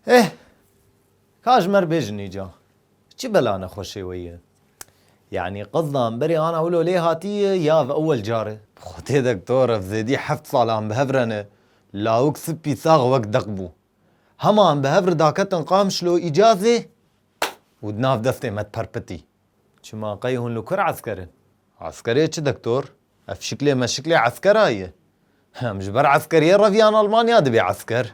Eh! Ka ji me re bêjin îca. Çi bela nexweşê wê ye? Yanî qızdan berê ana wilo lê hatiye ya ev ewel car e? Bi xwe tê doktor ev zêdî heft sal an bi hev re ne. Lawik sipî sax wek deq bû. Hema an bi hev re daketin Qamişlo îca zê û di nav destê me diperpitî. Çima qey hûn li kur esker in? Eskerê çi doktor? Ev şiklê meşiklê eskera ye. Em ji ber eskeriyê revîyan Almanya dibê esker.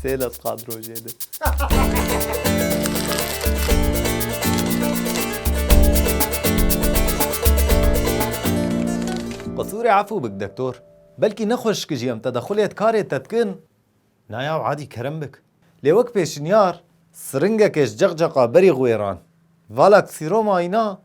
Sê lez qad rojê de. Qisûrê efû bik dektor. Belkî ne xweşikî jî em te de xulêt karê te dikin. Na yaw adî kerem bik. Lê wek pêşinyar, siringekê ji ceqceqa berî xwêran. Vala kisîroma îna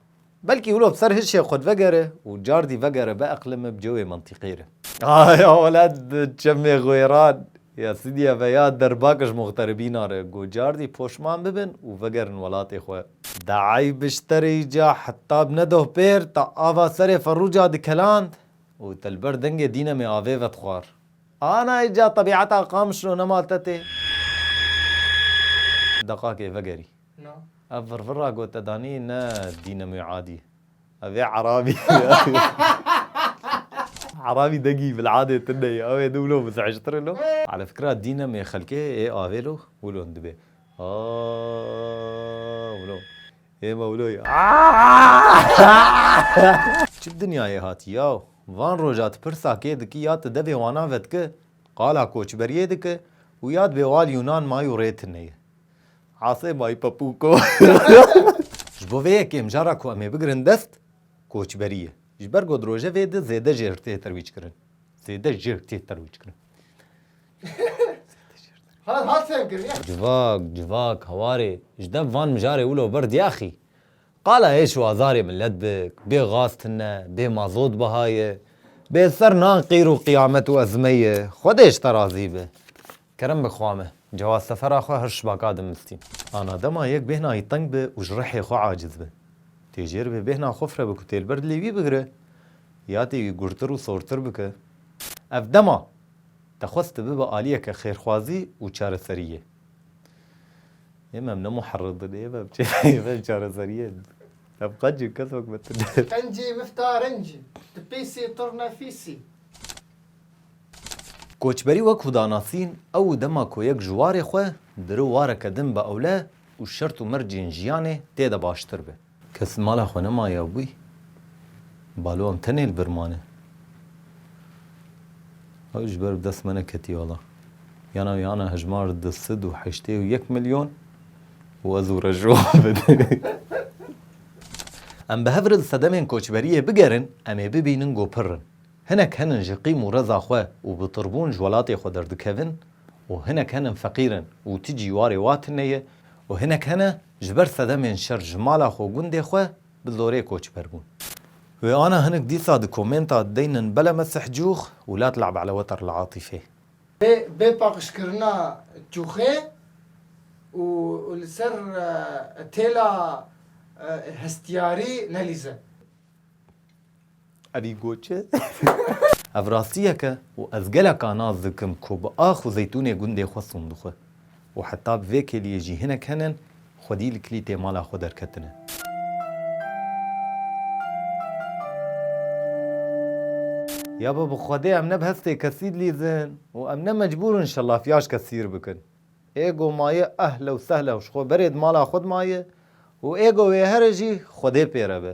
Belkî wilo bi ser hişê xwe divegere û cardî vegere bieqlime bi cewê mentiqê re. Ah ya welat bi çemê xwêran ya Sidîye ve ya derbak ji muxteribîna re got cardî poşman bibin û vegerin welatê xwe. Dayî bişterî ca heta bi nedoh pêr ta ava serê ferûca dikeland û te li ber dengê dînemê avê ve dixwar. Ana îca tebîeta Qamişlo nema te tê. Deqakê vegerî. No. Ev virvira ku te danî ne dînemoyê adî. Ev ê erabî. Erabî dengî bil'adê tune ye. Ew ê din wilo muz'ictir e lo. Ala fikira dînemê xelkê ê avê lo wilo hin dibe. Aaaa wilo. Ê me wilo ye. Aaaa. Çi dinyayê hatî yaw. Van roja tu pirsa kê dikî ya tu devê wana vedikî, qala koçberiyê dikî û ya dibê wal Yunan may û rê tune ye. Asê may papuko. Ji bo vê yekê mijara ku em ê bigirin dest koçberî ye. Ji ber ku di rojevê de zêde jêr tê terwîckirin. Zêde jêr tê terwîckirin. Civak, civak, hawarê ji dev van mijarê wilo vir diyaxî. Qala êş û azarê milet bik, bê gaz tune, bê mazot biha ye, bê ser nan qîr û qiyamet û ezmeyê ye, Xwedê ji te razî be. Kerem bi xwa me. Cewaz sefera xwe hirş baka dimistî. Ana dema yek bêhna wî teng be û ji rihê xwe aciz be. Tê jêr bê bêhna xwe fire be ku têlber dilê wî bigire ya tê wî gurtir û sortir bike. Ev dema te xwest te bibe aliyeke xêrxwazî û çareseriyê. Êm em ne muherridin êm em êm em çareseriyê din. Em qenc in kes wek me tune. Qencê mifta renc in. Ti pêsê turna fîsî. Koçberî wek ku danasîn ew dema ku yek ji warê xwe diri wareke din bi ewle û şert û mercên jiyanê tê de baştir be. Kes li mala xwe nema ya wî, balo em tenê li vir mane. Ew ji ber bi dest me neketiye wela. Yan ew yan e hejmar du sed û heştê û yek milyon û ez û rejo bi. Em bi hev re li sedemên koçberiyê bigerin em ê bibînin ku pir in. Hinek henin ji qîm û reza xwe û bi tirbûn ji welatê xwe derdikevin û hinek henin feqîr in û ti cî warê wa tine ye û hinek hene ji ber sedemên şer ji mala xwe û gundê xwe bi zorê koçber bûn. Wê ana hinek dîsa di komenta deynin bela mesih cûx û la tel'ab ala weter li Atîfê. Bê paqijkirina cûxê û li ser têla hestiyarî nelîze. Evî goç e. Ev rastiyek e û ez geleka nas dikim ku bi ax û zeytûnê gundê xwe son dixwe û heta bi vê kêliyê jî hinek henin xwedî li kilîtê mala xwe derketine. Ya be bi xwedê em ne bi hestê kesî dilîzin û em ne mecbûr in şelafîya ji kesî ir bikin. Ego maye ehle û sehle û ji xwe berê di mala xwe de maye û ego wê here jî xwedê pê re be.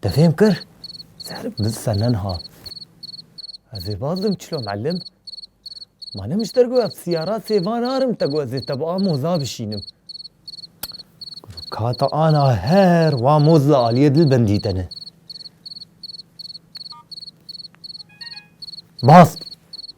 Te fêm kir? Serif bi senen hat. Ez ê bazim çilo melim. Ma ne min ji te got ev siyara sêva narim te got ez ê te bi a moza bişînim. Goto kata ana her wa moz li aliyê dil bendî te ne. Baz!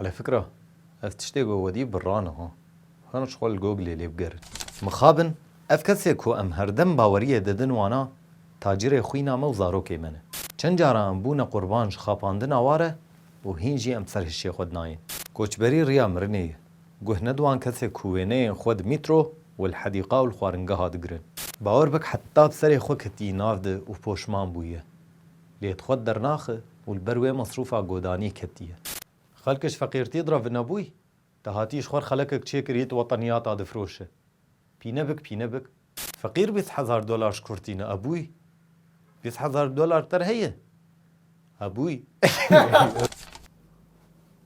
Ala fikra, ev tiştê ku wediy bi ra niha. Hûn ji xwe li Googleê lê bigerin. Mixabin, ev kesê ku em herdem baweriyê didin wana tacirê xwîna me û zarokê me ne. Çend caran em bûne qurban ji xapandina wa re û hîn jî em ser hişê xwe dinayên. Koçberî riya mirinê ye. Guh ne di wan kesê ku wêneyên xwe di mîtro û li hedîqa û li xwaringeha digirin. Bawer bik heta bi serê xwe ketiye nav de û poşman bûye. Lê di xwe dernaxi û li ber wê mesrûfa godanî ketiye. Xelkê ji feqîrtiyê dira vinebûy, dahatiye ji xwer xelekek çêkir yê di wetaniyata difiroşe. Pîne bik pîne bik. Feqîr bîst hezar dolar ji kur tîne ebûy. Bîst hezar dolar te re heye? Ebûy.